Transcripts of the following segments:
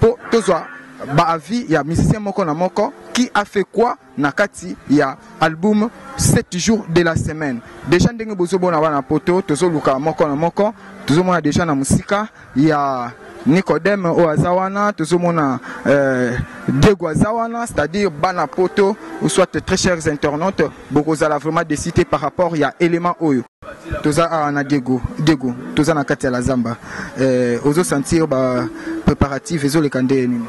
Po tozwa ba avis ya musicien moko na moko qui a fait quoi na kati ya album 7 jours de la semaine déjà ndenge bozomona wana poto tozoluka moko na moko tozomona déjà na mosika ya Nicodème oyo aza wana tozomona euh, Diego aza wana c'est-à-dire bana poto ou soit très chers internautes bokozala vraiment décité par rapport ya élément oyo toza awa na diego diego toza na kati ya la zamba eh, ozo sentir ba préparatif ezoleka ndeye nini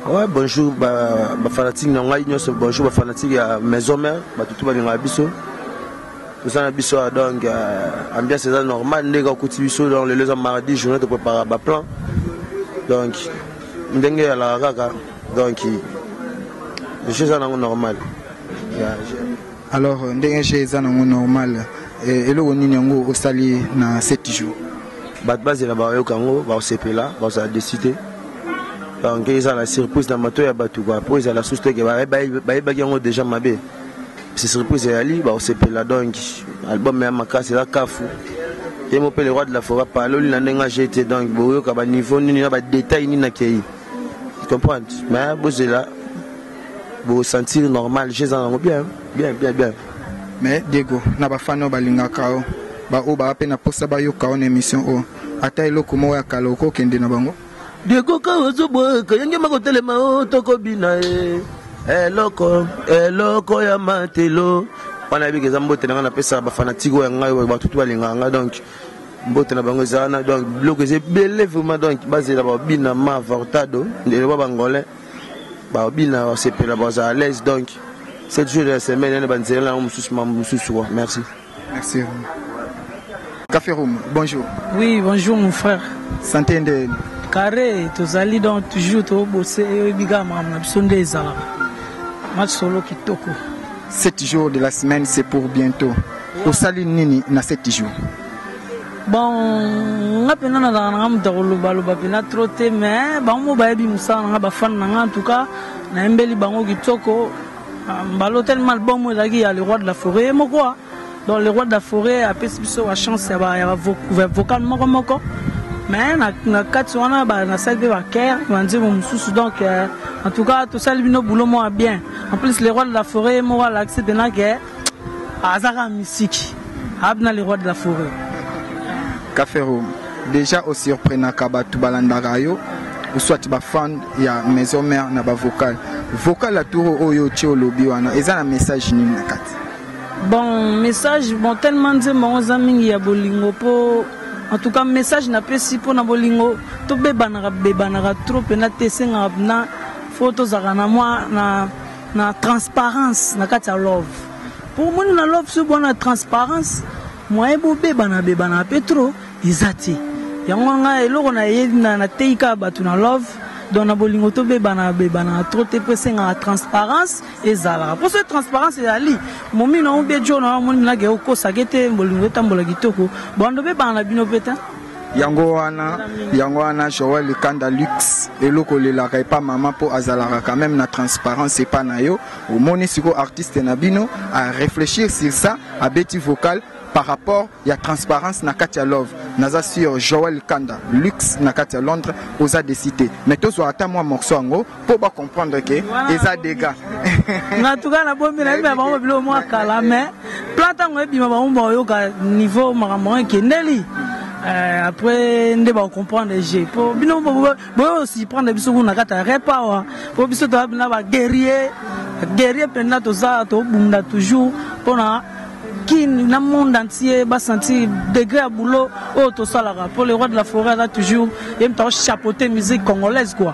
ouais, bonjour bafanatike na ngai nyonso bonjour bafanatike ya maison mare bato tu balingaka biso toza na biso awa donc euh, ambiance eza normal ndenge okuti biso donc lelo eza mardi journée toprépara baplan donc ndenge eyalaka kaka donc jeu eza nango normal yeah, Alors ndenge je eza nango normal eh, eloko nini yango osali na 7 jours? Bato bazela bayoka yango bakosepela bakozala desi te donc ezala surprise na mato ya bato kua mpo ezala susu teke bayebaki yango deja mabe si surprise eyali bakosepela donc album ya makasi eza kafu ye mo mpe le roi de la foret paloli na ndenge aje te donc boyoka baniveau nini na badetail nini akei comprendre mais bozela bo sentir normal je eza nango bien bien bien bien mais diego na bafani oyo balingaka yo baoyo baa mpe na mposa bayoka yo na émission oyo ata eloko moko ya kala okokende na bango diego kawa ozoboyeka yenge makotelema o tokobina e eloko eloko ya matelo wana yebiki eza mbote na ngai napesaka bafanatike oyo ya ngai oyo batutu balingaka ngai donc mbote na bango eza wana donc biloko eza ebele vraiment donc bazela babina ma vortado ndeloba bangolais babina basepela baza à l'aise donc 7 jours de la semaine yana banzela na yango mosusu mambo mosusu wa merci merci café room bonjour oui bonjour mon frère santé nde carré tozali donc toujours tobose oyebi kaka makambo na biso nde ezalaka masolo kitoko 7 jours de la semaine c'est pour bientôt osali nini na 7 jours Bon, nga pena nazalaka nanga moto ya kolobaloba pena tro te mais bango mo bayebi mosala nanga bafani nanga en tout cas nayembeli bango kitoko ah, mbala otelema album oyo ezalaki ya le roi de la forêt ye moko ah. donc le roi de la forêt apesi biso bachance ya bavocal moko moko mais na kati wana nasali mpe bakere banzembo mosusu donc euh, en tout cas tosali bino boulot moko ya bien en plus le roi de la forêt ye moko alakisi pena ke aza kaka misiki abna le roi de la foret kafero deja osurprenaka bato balandaka yo soit bafan ya maison mère na bavocal vocal ya turo oyo otie olobi wana eza na message nini na kati bon message bon tellement nzembo yango eza mingi ya bolingo mpo en tout cas message napesi mpo na bolingo tobebanaka bebanaka trop mpena te esengaka mpena fo tozalaka na mwa na na transparence na kati ya love po omoni na love soki bwana transparence moyen bobebana bebana pe trop eza te yango nga eloko nateyi kaka bato na love donc na bolingo tobebana bebana trop te mpo esengaka transparence ezalaka mpo soki transparence ezali momi na yo mpe jo na yo omoni minaka ekokosaka ete bolingo etambola kitoko bando obebana na bino mpe te yango wana yango wana joel likanda lux eloko olelaka epa mama mpo azalaka quand même na transparence epa na yo omoni sikoyo artiste na bino a réfléchir sur ça abeti vocal par rapport ya transparence na kati ya love naza sur joel kanda lux na kati ya londres oza desite mais tozwa ata mwa morceau yango po ba comprendre que eza dega na tuka na bombi na bima bango bilo mwa kala mais plan tango ebima bango ba yoka niveau makambo ekendeli Euh, après nde ba comprendre je po bino boyo si prendre biso kuna kata repa awa po biso toza bina ba guerrier guerrier mpenza toza tobunda toujours mpona kin na monde entier basentir degré ya boulot oyo tosalaka mpo le roi de la forêt aza toujours ye moto aochapeauter musique congolaise quoi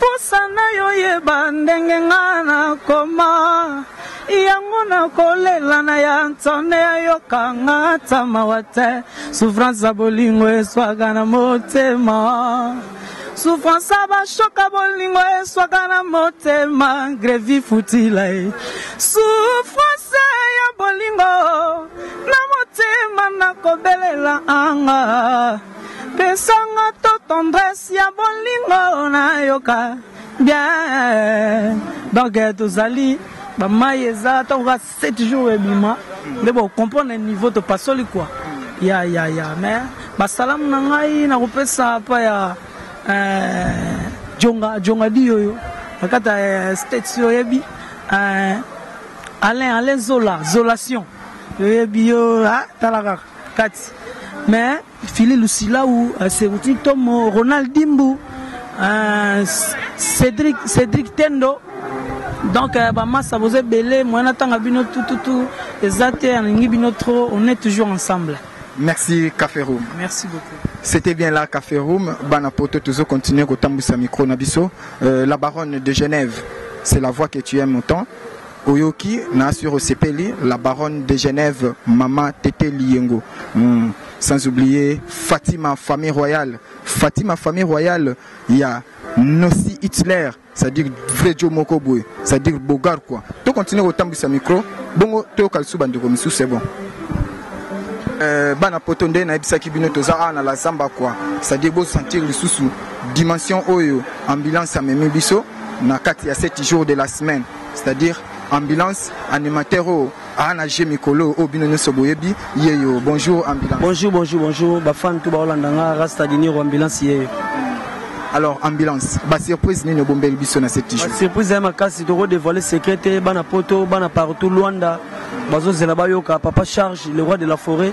Posa nayo yeba ndenge nga na koma yango na kolela na ya nsone ayoka nga ata mawa te souffrance ya bolingo eswaka na motema souffrance ya bashoka bolingo eswaka na motema grevi futila ye souffrance ya bolingo na motema nakobelela anga Pesanga to tendresse ya bolingo na yoka bien donc eh, tozali bamai eza ntango kaka 7 jours ebima nde bocomprendre niveau topasoli kua ya ya ya mais basalamu na ngai nakopesa mpa ya eh, jonga jonga diyoyo na kati ya eh, states oyebi alain alain zola zolation oyebi yo ah, tala kaka kati mais fili lusilau euh, seruti tomo ronald dimbu euh, cédric cédric tendo donc euh, bamasa boza ebele moyen natanga bino tututu eza te alingi bino trop on est toujours ensemble merci café room merci beaucoup c'était bien là café room bana poto tozo continuer kotambwisa micro na biso euh, la baronne de genève c'est la voix que tu aimes autant Oyoki na sur osepeli la baronne de Genève maman Tete Liyengo mm. sans oublier Fatima famille royale Fatima famille royale ya Nosi Hitler c'est-à-dire vrai Joe moko boye c'est-à-dire Bogar quoi to continuer kotambwisa micro bongo toyoka lisusu bandeko misusu c'est bon euh, bana poto nde nayebisaki bino toza awa na la zamba quoi c'est-à-dire bosentir lisusu dimension oyo ambulance amemi biso na kati ya 7 jours de la semaine c'est-à-dire ambulance animateur oyo aa na jeu mikolo oyo bino nyonso boyebi yeyo bonjour ambulance bonjour bonjour bonjour bafan to baolanda nga rasta diniro ambulance yeyo alors ambulance basurprise nini obombeli biso na cette jour surprise ya makasi tokodevoile secret te bana poto bana partout luanda bazozela bayoka papa charge le roi de la forêt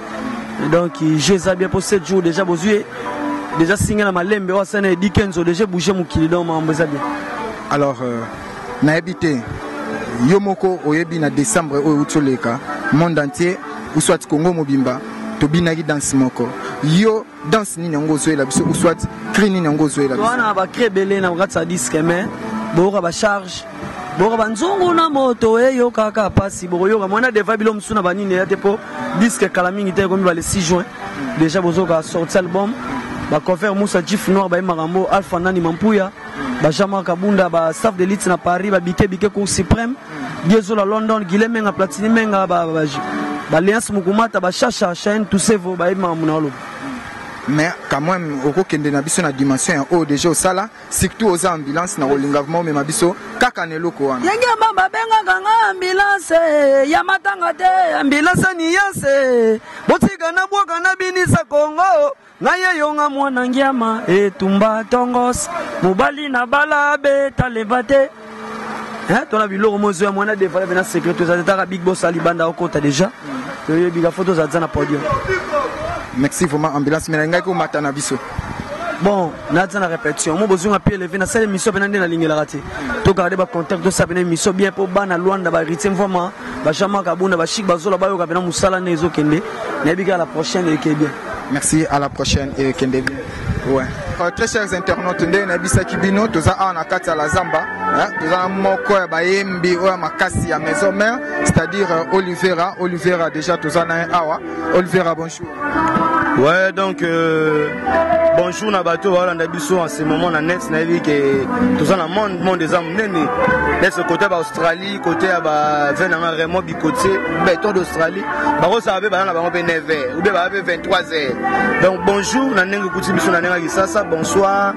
donc je eza bien mpo 7 jour déjà bozwi déjà singa na malembe oyo asana edi kenzo déjà bouge mokili donc mambo eza bien alors euh... nayebi te yo moko oyebi na décembre oyo euti oleka monde entier ou soit congo mobimba tobinaki danse moko yo danse nini yango ozoyela biso ou soit cri nini yango ozoyela biso wana bacri ebele na kokatisa diske mai boyoka bacharge boyoka banzungu na moto eyokaka mpasi bokoyoka mwana deva bilo mosusu na banini eya te mpo diske kala mingi te ekomi bale 6 juin déjà bozoyoka sorti album bacover musa jif noir bayemaka yango alpha nani mampuya ba Jean-Marc Kabunda, ba staff de lutte na Paris, ba Bike Bike Cour suprême, Diezo la London, Guilhem Menga, Platini Menga, ba ba ba Léance Mukumata, ba Chacha, Chaine, tous ces vos ba yema munalo. mais quand même okokende na biso na dimension ya oyo deja osala surtout oza ambulance na kolinga vraimen omema biso kaka na eloko wana yenge ya mama abengaka nga ambulance ya matanga te ambulance niyanse botika na bwaka na binisa kongo Na ye yo nga mwana ngiama etumba tongos mobali na bala beta levate eh, tona biloko mozo ya mwana defala pena secret tozali taka big boss alibanda okota deja toyebi ka foto ozali za na podium merci vraiment ambulance mais nalingaki omata na biso bon naza na répétition mo bozonga mpe eleve nasala émission mpena nde nalingelaka te togarde bacontact tosala mpena émission bien mpo bana lwanda baritier mvama bajean mark abunda bachik bazola bayoka mpena mosala nde ezokende nayebi kaka la prochaine eke bien Merci, à la prochaine et kende bien. Ouais. Euh, très chers internautes, nde na bisa kibino toza awa na kati ya la zamba, hein, toza moko ya bayembi oyo makasi ya maison mère, c'est-à-dire euh, Olivera, Olivera déjà toza na awa. Olivera bonjour. Ouais, donc euh, bonjour na bato balanda biso en ce moment na net nayebi ke toza na monde monde eza monene nese kota baaustralie kote ya bavie nanga raymond bikotie beton d'australie bakosaka mpe bana na bango mpe 9 heures oubie baa mpe 23 heures donc bonjour na ndenge okuti biso na ndenge ya kisasa bonsoir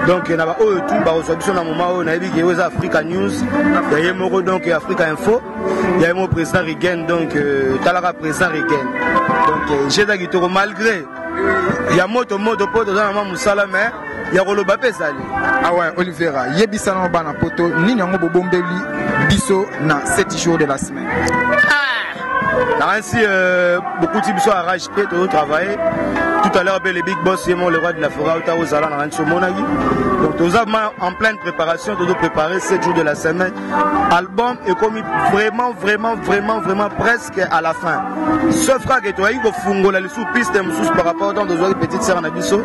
donc na baoyo tu bakozwa biso na moma oyo nayebi ke oyo eza africa news ya ye moko donc africa info ya ye moko président rigen donc euh, talaka président rigen donc euh, jeu eza kitoko malgré ya moto moto mpo toza na mwa mosala me ya koloba mpe ezali awa ah olivera yebisa na bana poto nini yango bobombeli biso na 7 jours de la semaine ah! nakanisi euh, bokuti biso arage mpe tozo travaille tout à l'heure mpe le big boss ye mo le roi de la forat ota ozala na kanisi omonaki donc toza ma en pleine préparation tozo préparer 7 jours de la semaine album ekomi vraiment vraiment vraiment vraiment presse à la fin sauf kaka ke toyaki kofungola lisusu piste mosusu par rapport ntango tozwaki petite sœur na biso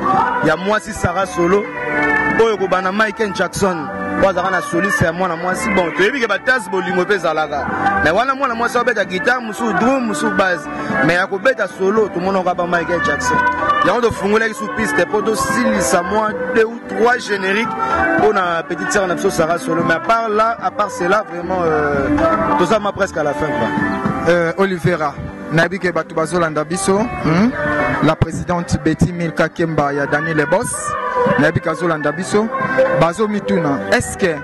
ya mwasi sara solo oyo kobanda michael jackson oyo azalaka na soliste ya mwana mwasi bon toyebi ke batase bolingo mpe ezalaka me wana mwana mwasi abeta gitare mosusu drum mosusu base me ya kobeta solo tomonaka ba michael jackson yango tofungolaki su piste mpo tosilisa mwa deux trois génériques pour la petite sœur Napso Sarah Solo. Mais à part là, à part cela, vraiment, euh, tout ça m'a presque à la fin. Quoi. Euh, Olivera, Nabi Kebatu Bazolanda Bisso, hmm? la présidente Betty Milka Kemba, ya Daniel Le Boss, Nabi Kazolanda Bisso, Bazo Mituna, est-ce que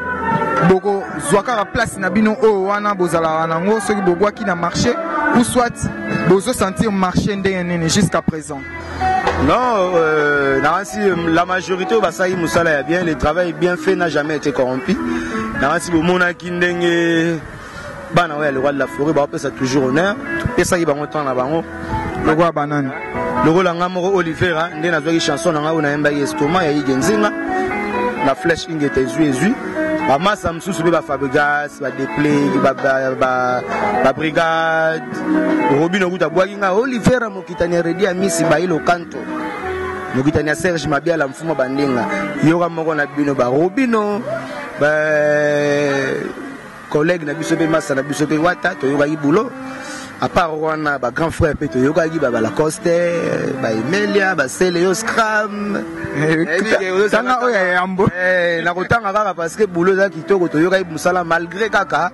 boko zwakaka place na bino oyo wana bozalaka nango soki bobwaki na marché ou soit bozo sentir marché ndenge nini jusqu'à présent Non, euh, Nancy, la majorité au Basaï Moussala est bien, le travail bien fait n'a jamais été corrompu. Nancy Boumona Kindenge, Bana, ouais, le roi de la forêt, bah, ça toujours honneur. Et ça, il va monter en avant. Le roi banane. Le roi langa moro Olivera, hein, nde na zwa chanson na ngao na yemba estoma ya igenzinga. La flèche ingeta ezui ezui. Ba massa msusu be ba Fabregas, ba Deplay, ba ba ba, ba Brigade. Robino kuta bwaki nga Olivera Mokitani ya Redi Amisi bayi lokanto mokitani ya Serge Mabiala mfuma bandinga yoka moko na bino ba Robino ba collègue na biso mpe masa na biso mpe wata toyokaki boulot à part wana ba grand frère mpe toyokaki ba balacoste ba emelia ba celeo scram tanga oyo ya yambo nakotanga kaka parce que boulot eza kitoko toyokaki mosala malgré kaka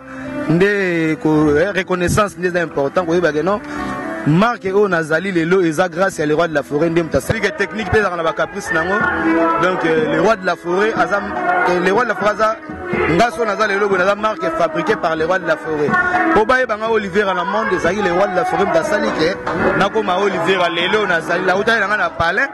nde eh, reconnaissance nde eza important koyeba ke non marke oyo nazali lelo eza grâce ya le roi de la forêt nde moto asalike technique mpe ezalaka na bacaprice na yango donc euh, le roi de la forêt aza euh, le roi de la forêt aza nga so naza lelo boye naza marke fabriqué par le roi de la forêt mpo bayeba nga olivera na monde ezalaki le roi de la forêt moto asali ke nakoma olivera lelo nazali lautaki na nga na palais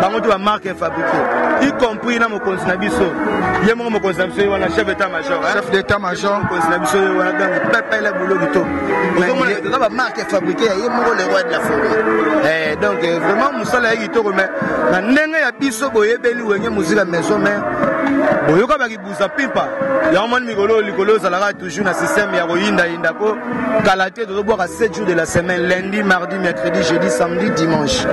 bango to ba marque fabriquée y compris na mokonzi na biso ye moko mokonzi na biso ye wana chef d'état major chef d'état major mokonzi na biso ye wana ganga pepele bulo kito oza ba marque fabriquée ya ye moko le roi de la forêt eh donc euh, vraiment mosala ya kitoko mais na ndenge ya biso boyebeli wenge muzika maison mais boyoka buza pimpa yango moni mikolo likolo ozalaka toujours na système ya koyindayinda mpo kala te tozobwaka 7 jours de la semaine lundi mardi mercredi jeudi samedi dimanche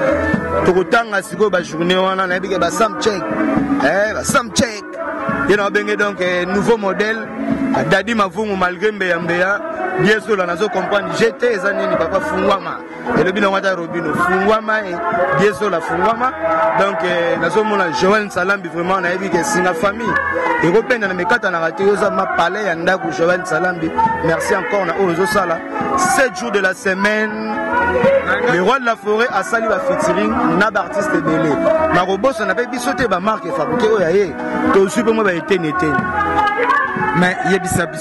tokotanga sikoyo bajournée wana nayebi ke basam check eh, basam check ye na babenge donc eh, nouveau modèle dadi mavungu malgré mbeya mbeya biesola nazo comprendre jete eza nini papa fungwama elobi nango ata robino fungwama eh, biezola fungwama donc eh, nazomona joel nsalambi vraiment nayebi ke singa famille ekopenda na mikatanaka te oza mapale ya ndako joel nsalambi merci encore na oyo ozosala 7 jours de la semaine le roi de la forêt asali bafitiring na baartiste ebele nakobosana mpe biso te bamarke fabrike oyo ya ye tozwi mpe mwa baeteni eteni mais yebisa biso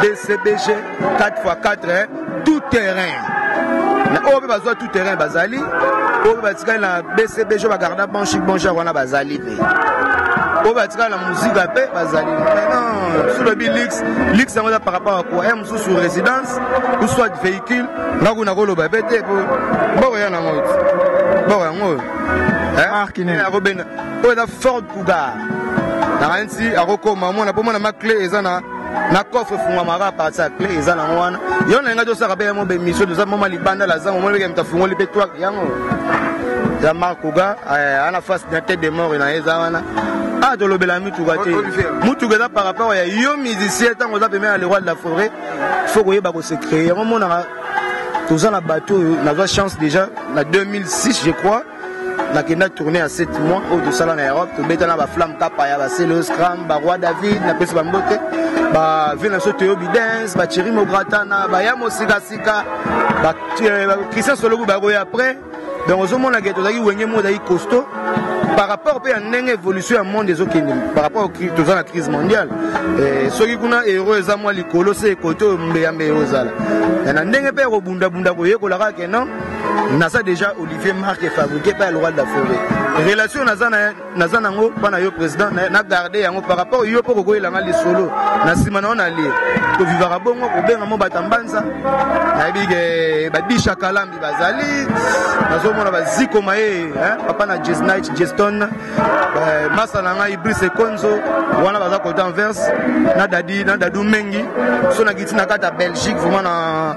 bcbg 4x4 eh, tout terrain na oyo mpe bazwa tout terrain bazali oyo mpe batikali na bcbg bagarda banchi bonjar wana bazali mpe oyo batikala na muzika mpe bazali maintenant solobi lix lix yango eza par rapport ya kua ya mosusu résidence ou soit véhicule nga kuna koloba mpe te po boko ya nango boko yango oyo akobenda oyo eza fort Cougar. Nakanisi akokoma mwana po mwana ma clé eza na na coffre efungwamaka parti ya clé eza nango wana yo na ngai tosaka mpe yango bemission toza moma libanda la zango omoni beke moto afungoli mpe twak yango ya mark kuga eh, ana face na tete de mort na ye eza wana ah tolobela mituka te mutuka eza par rapport ya yo musicien ntango oza pembe na le roi de la forêt faut koyeba kose créer yango omonaka toza na bato oyo nazwa chance déjà na 2006 je crois nakenda tourne ya 7 mois oyo tosala na europe tobeta na baflamme kapa ya basele oscram baroi david napesi bambote bavie na biso toyo bidens bacheri mobratana baya mosikasika christian soloku bakoya après donc ozomona ke tozalaki wenge moko ezalaki costaud par rapport mpe ya ndenge évolution ya monde ezokende par rapport toza na crise mondiale eh, soki kuna euro eza mwa likolo se ekote oyo mbeyambe eozala na ndenge mpe ya kobundabunda koyekolaka ke non naza déjà olivier marque fabriqué par le roi de la forêt relation naza na naza nango mpa na yo président na garde yango par rapport yo mpo kokoyelanga lisolo na nsima na yo na lie tovivaka bongo kobenga mo bata mbanza nayebi ke eh, badisha kalambi bazali nazomona baziko maye papa na jesnit jeston eh, masa na ngai brice konzo wana baza kota anvers na dadi na dadu mengi so na kiti na kati ya belgique vraiment na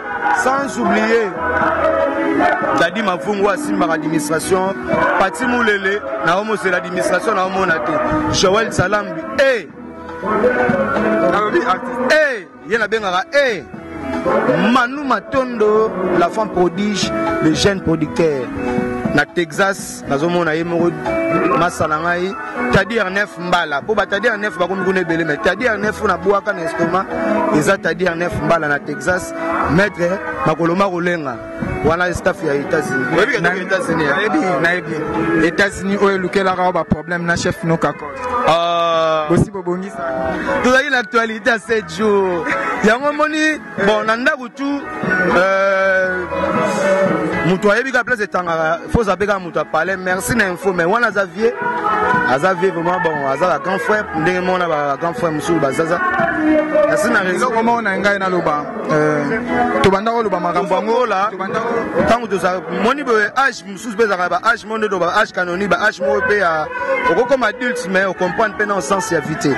sans oublier dadi mavungu asimbaka administration pati mulele na omosela administration na omona te joel salambi e e ye nabengaka e manu matondo la femme prodige le jeune producteur na texas nazomona ye moko masala ngai tadi arnef mbala mpo batadi arnef bakomi kuna ebele mai tadi arnef oyo nabwaka na estoma eza tadi arnef mbala na texas maitre makolo makolenga wana staff ya états-unis états-unis oyo elukelaka yo baproblème na chef nokako ah. bosi bobongisa tozali na actualité ya 7 jours yango omoni bon na ndako tout euh, moto ayebi kaka place etangaka fo oza mpe kaka moto apale merci na info mais wana aza vie aza vie vraiment bon aza ba grand frère ndenge mona ba grand frère mosusu bazaza merci na raison eloko moko na ngai naloba euh, tobanda koloba makambo yango la ntango tozala moni boye age mosusu mpe ezalaka ba age moko nde ba age canoni ba age moko mpe ya okokoma adulte mais ocomprendre mpe na ensense ya vie te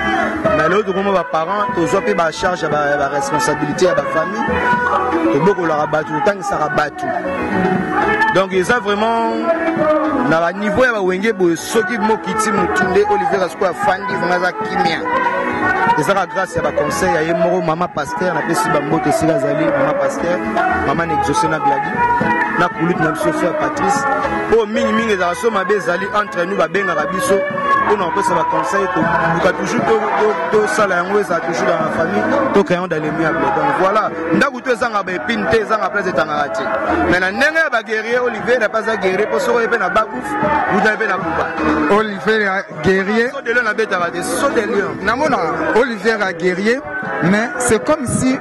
mais lelo tokoma baparent tozwa mpe bacharge ya baresponsabilité ya bafamille tobokolaka bato totangisaka bato donc eza vraiment na baniveau ya bawenge boye soki mokiti motu nde olivier kasuku afandi vraimen aza kimia ezaka grâce ya baconseil ya ye moko mama pas Pasteur napesi bambote esika azali mama pasteur mama na exauce na gladi na kulute na biso frère patrice oyo mingimingi ezala so mabe ezali entre nous babengaka biso mpo na kopesa baconseil toluka toujours tosala yango ezala toujours dans la famille toka yango dans le miable donc voilà ndako to ezanga baepine te ezanga place etangaka te mais na ndenge ya baguerrier olivier na mpe aza guerrier mpo soko ye mpe na bakuf uta ye mpe na kuba olivier guerrier so de lion abetaka te so de lion namona olivier a guerrier mais c'est comme si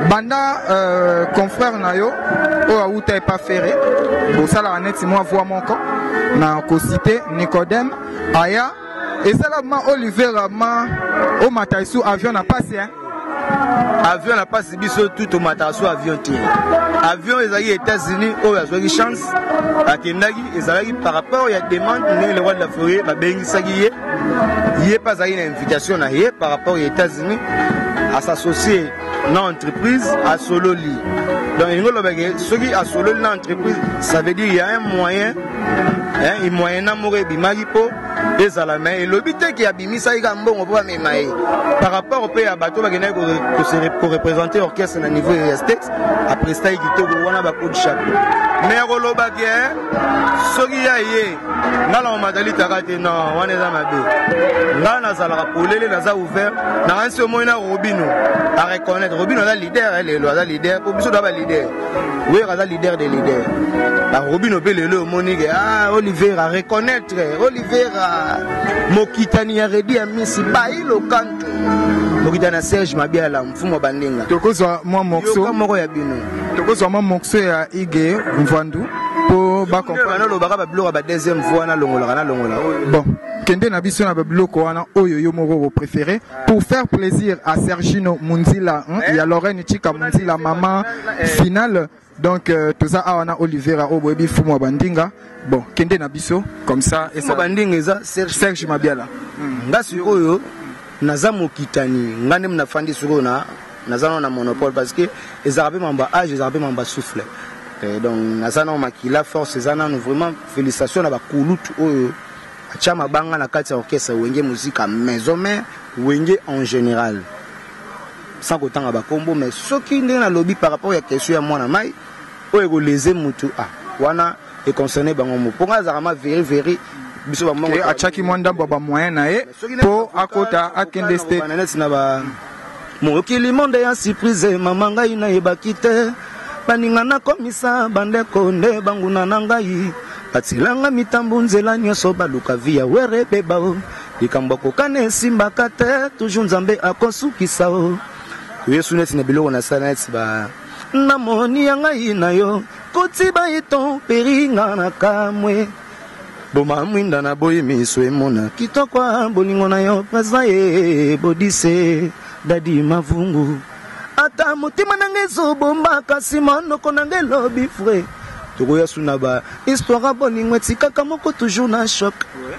banda euh, confrère na yo oyo awuta epa ferre bosalaka neti mwa voix moko na kosite nicodème aya esala ma olivera ma omata esu avion na pasi hein avion na pasi biso tu tomataka so avion te avion ezalaki états-unis oyo azwaki chance akendaki ezalaki par rapport ya demande ndenge le roi de la forie babengisaki ye ye mpe azalaki na invitation na ye par rapport ya états-unis asassocie na entreprise asololi donc elingi olobake soki asololi na entreprise ça veut dire ya un moyen hein, moyen na moko ebimaki mpo ezala me elobi te ke abimisaki kaka mbongo mpo bamema ye par rapport mpe ya bato bakendaki korepresente orchestre na niveau ya states aprestaki kitoko wana bakodi chapeau me ya koloba ke eh, soki ya ye ngai na omatalitaka te no wana eza mabe ngai nazalaka polele naza ouvert nakanisi omoi na robino a reconnaître robino aza leader eh, lelo aza leader mpo biso toa ba leader wera aza leader de leader barobino mpe lelo omoni ke ah oliver a reconnaître Olivera mokitani ya Redi ya Misi bayi lokanto mokitani ya Serge Mabiala mfumu wa bandinga tokozwa mwa morceau moko ya bino tokozwa mwa morceau ya Ige Mvandu po ba comprendre lobaka ba biloko ba deuxième voix na longolaka na longola bon kende na biso na ba biloko wana oyo yo moko ko préféré pour faire plaisir à Sergino Munzila hein, eh? ya Lorraine Chika Munzila maman finale donc euh, toza awa na olivera oyo boyebi fumu ya bandinga bon kende na biso comme ça esa bandinga eza serge, serge mabiala hmm. nga sikoyo naza mokitani nga nde nafandi sikoyo na naza nao na monopole parce que ezalaka mpe mamba age ezalaka mpe mamba souffle eh, donc naza nao makila force eza nano vraiment félicitation na bakulutu oyo atya mabanga na kati ya orchestre wenge muzika maison mare wenge en général sans kotanga ba kombo mais soki ndenge na lobi par rapport ya question ya mwana mai oyo eko leze mutu ah wana e concerne bango mo ponga azaka ma veri veri biso ba mongo achaki mwa ndambo ba moyen na ye po akota akende state na net na ba mokili monde ya surprise mama ngai na yebaki te baninga nakomisa bandeko nde banguna na ngai batilanga mitambo nzela nyonso baluka vi ya were bebao Likambo ya kokana esimbaka te, toujours Nzambe akosukisa o. Yesu neti na biloko na sala neti ba na moni ya ngai na yo koti ba eton peringa na kamwe boma mwinda na boyi miso emona kitoko bolingo na yo presa ye bodise dadi mavungu ata motema na ngai ezobomba kasi monoko na ngai elobi fre tokoya suna ba histoire bolingo etikaka moko toujours na choc ouais.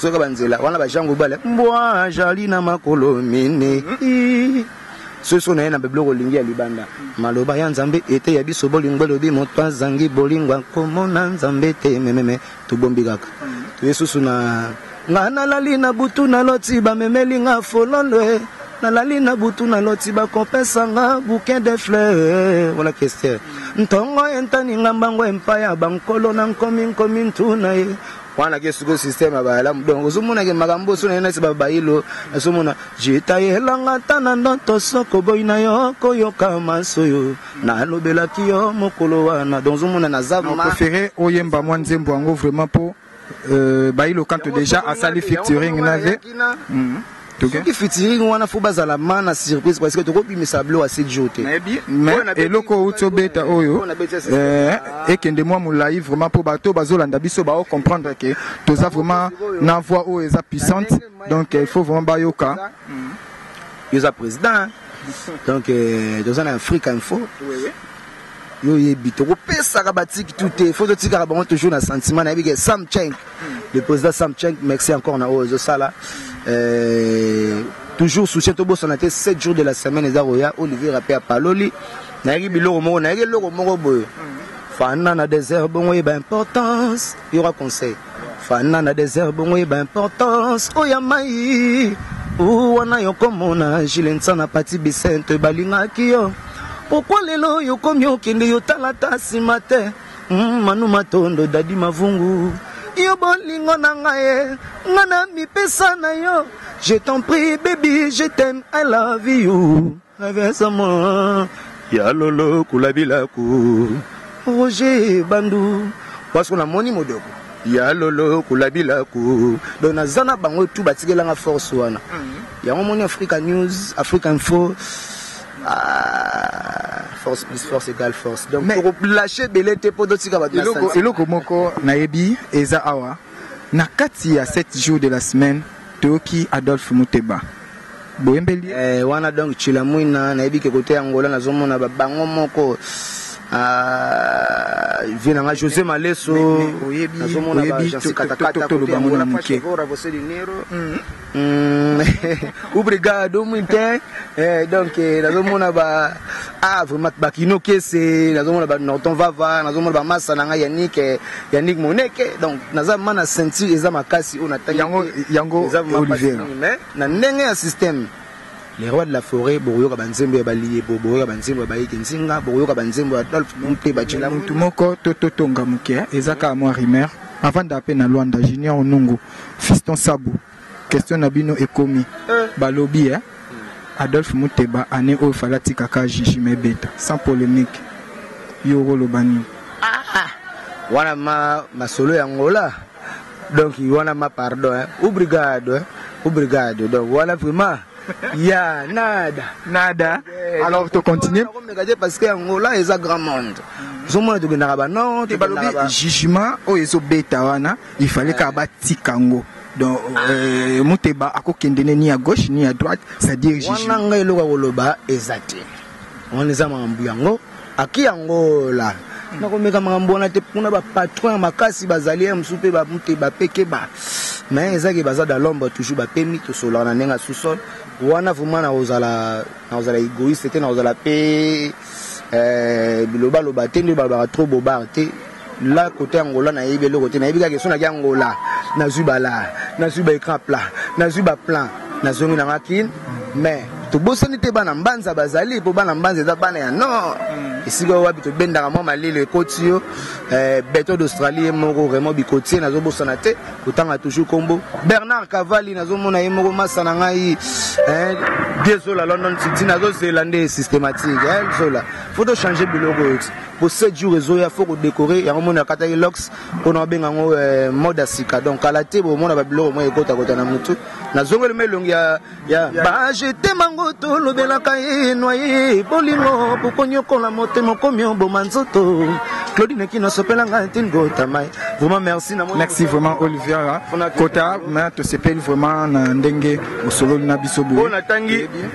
zoka banzela wana bajango bale mbwa ajali na makolo mine soso na ye na babiloko olingi ya libanda maloba ya nzambe ete ya biso bolingo elobi moto azangi bolingo akomona nzambe te mememe tobombi kaka toye susu na nga nalali na butu naloti bamemeli nga fololo e nalali na butu naloti bakopesa nga bouquin de fleur wana kester ntongo entani nga mbango empa ya bankolo na nkomi nkomi ntuna ye wana ke sikoyo système ya bayalamu donc ozomona ke makambo oso naye nasi babayilo nazomona jetayelanga ata na ndoto soko boyi na yo koyoka manso yo nalobelaki yo mokolo wana donc ozomona naza prefere oyemba mwa nzembo yango vraiment mpo euh, bayilo kanto déjà asali featuring na ye soki fitiring wana fo bazala ma na surprise parce que tokobimisa blo ase jo te mais eloko outi obeta oyo eh, ekende mwa molai vraiment mpo bato bazolanda biso bao comprendre ke toza vraiment na voix oyo eza puissante donc il faut vraiment bayoka yo oza président donc euh, toza na afrique info yo oyebi tokopesaka batiki tu te fo totikaka bango toujours na sentiment nayebi ke sam cheng le président sam cheng merci encore na oyo ezosala euh, toujours soutien tobosana te 7 jours de la semaine eza koya olivier rape apaloli nayeki biloko moko nayeki eloko moko boye fanda na desert bongo yeba importance Il y aura conseil. Fana na désert bongo yeba importance oya mai wana yokomona jile nsana pati bisente balingaki yo pokwa lelo oyo okomi okende yo talata nsima te hmm, manu matondo dadi mavungu yo bolingo na ngai nga na mipesa na yo je t'en prie baby je t'aime i love you Navesa mo ya lolo kula bilaku Roger Bandu parce qu'on a moni modoko ya lolo kula bilaku donc naza na bango tout batikelanga force wana mhm. yango moni africa news africa info ah, force plus force égale force donc tokolâche ebele te mpo totika bato eloko moko nayebi eza awa na kati ya 7 jours de la semaine toyoki adolphe muteba boyembeli ye. Eh wana donc Tshilamwina nayebi ke kote ya Angola nazomona ba bango moko Ah, vie na nga josé maleso nazomona toloba mona moke obrigado muito donc nazomona ba ah vraiment bakino kese nazomona ba norton vava nazomona ba masa na ngai yanik eh, yanik moneke donc naza mana ceinture eza makasi oyo natangi yango yango olivier Na ndenge ya système, Les rois de la foret, bokoyoka ba nzembo ya ba Liyebo, bokoyoka ba nzembo ya ba Yeke Nzinga, bokoyoka ba nzembo ya Adolphe Mute, ba Tshela Mute. Mutu moko to to tonga muke eza kaka mua rumeur. Avandaka pe na Luanda, Junior Onungu, Fiston Sabu, question na bino ekomi balobi eh Adolphe Mute ba annee oyo fallait atika ka Jijima ebeta sans polemique. Yo oko loba nini? Ah ah wana ma masolo ya Angola. donc wana ma pardon hein? obrigado hein? obrigado donc wana vraiment ya nada nada eh, alors to continue komeka te parce que angola eza grand monde ozomona tokendaka banon te balobi jugement oyo ezobeta wana il fallait kaka batika yango donc euh, muteba akokende ne ni ya gauche ni ya droite c'est-à-dire wana ngai eloko ya koloba eza te wana eza makambo yango aki angola nakomeka makambo wana te kuna bapatron ya makasi bazali ya mosusu mpe bamute bapekeba me ezaki baza da lombre toujours bapemi tosolaka na ndenge ya sous-sol wana vraimen nakozala nakozala egoïste te nakozala mpe eh, bilobaloba te nde balobaka trop bobare te Là, côté Angola, na yebi eloko te, na yebi kaka son na Angola, na zui ba là, na zui ba écran plat, na zui ba plan, na zongi na ngakin, mais tobosani te bana mbanza bazali mpo bana mbanza eza bana ya nord mm. esika oyo wapi tobendaka mwa malili ekoti yo eh, beton d'australie ye moko raymond bikotie nazobosana te kotanga toujours nkombo bernard cavali nazomona ye moko masa na ngai eh, biezola london city nazozela nde systématique eh, zola fo tochange biloko eti po 7 jours ezoya faut ko décorer yango mona akataki lox pona babenga yango eh, mode ya sika donc kala te bomona babiloko moko ekotakota na motu nazongeli ma elongi ya, ya bajete mango tolobelaka ye noye bolingo bokonyokola motema okomi oboma nzoto claudine kino asopela ngai ntini kotamai vraiment merci na merci vraiment olivier kota ma tosepeli vraiment na ndenge osololi na biso boye natangi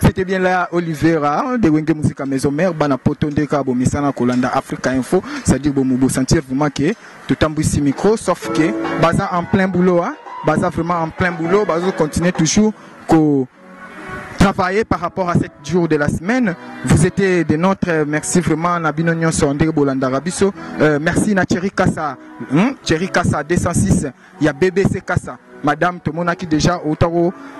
C'était bien là Olivera de Wenge Musica Maison Mère bana poto nde ka bomisana kolanda Africa Info c'est-à-dire bomo bo sentir vraiment que totambwisi micro sauf que baza en plein boulot hein baza vraiment en plein boulot bazo continuer toujours ko travailler par rapport à cette jour de la semaine. Vous étiez de notre merci vraiment Nabino Nyonso Ndege Bolandara Biso. Euh, merci na Thierry Kassa, hein? Thierry Kassa 206 ya bbc kasa madame tomonaki déjà outa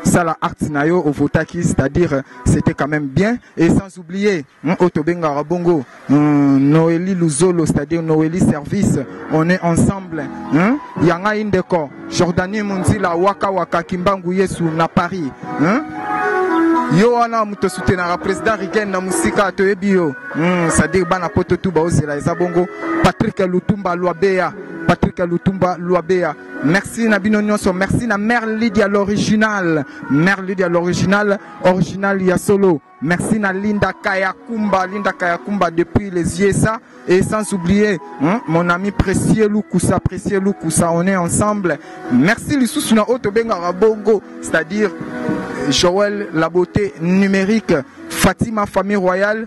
sala acte na yo ovotaki c'est-à-dire c'était quand même bien et sans oublier hein, oyo tobengaka bongo hmm, noeli luzolo c'est-à-dire noeli service on est ensemble hein. ya ngai ndeko jordanie munzila waka waka kimbangu yesu na paris hein. yo wana moto soutenaka président rigen na mosika toyebi yo hmm, c'est-à-dire bana poto tu baozela eza bongo patrick lutumba lwabeya Patrick Lutumba Luabea. Merci na bino nyonso. Merci na Mère Lydia l'original. Mère Lydia l'original, original ya solo. Merci na Linda Kayakumba, Linda Kayakumba depuis les IESA et sans oublier hein, mon ami précieux Lukusa, précieux Lukusa, on est ensemble. Merci lisusu na oto bengara bongo, c'est-à-dire Joël la beauté numérique, Fatima famille royale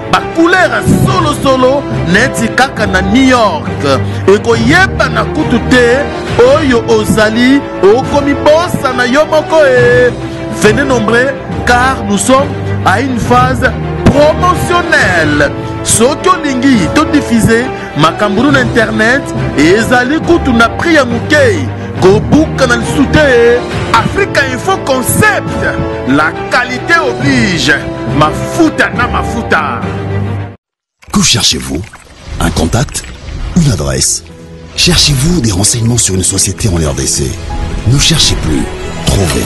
bacouleur ya solosolo neti kaka na new york ekoyebana kutu te oyo ozali okomibosana yo moko e venez nombre car nous sommes à une phase promotionnelle soki olingi todifuse Makambulu na internet ezali kutu na prix ya moke kobuka na lisu te africa info concept la qualité oblige mafuta na mafuta que cherchez-vous un contact une adresse cherchez-vous des renseignements sur une société en rdc ne cherchez plus trouvez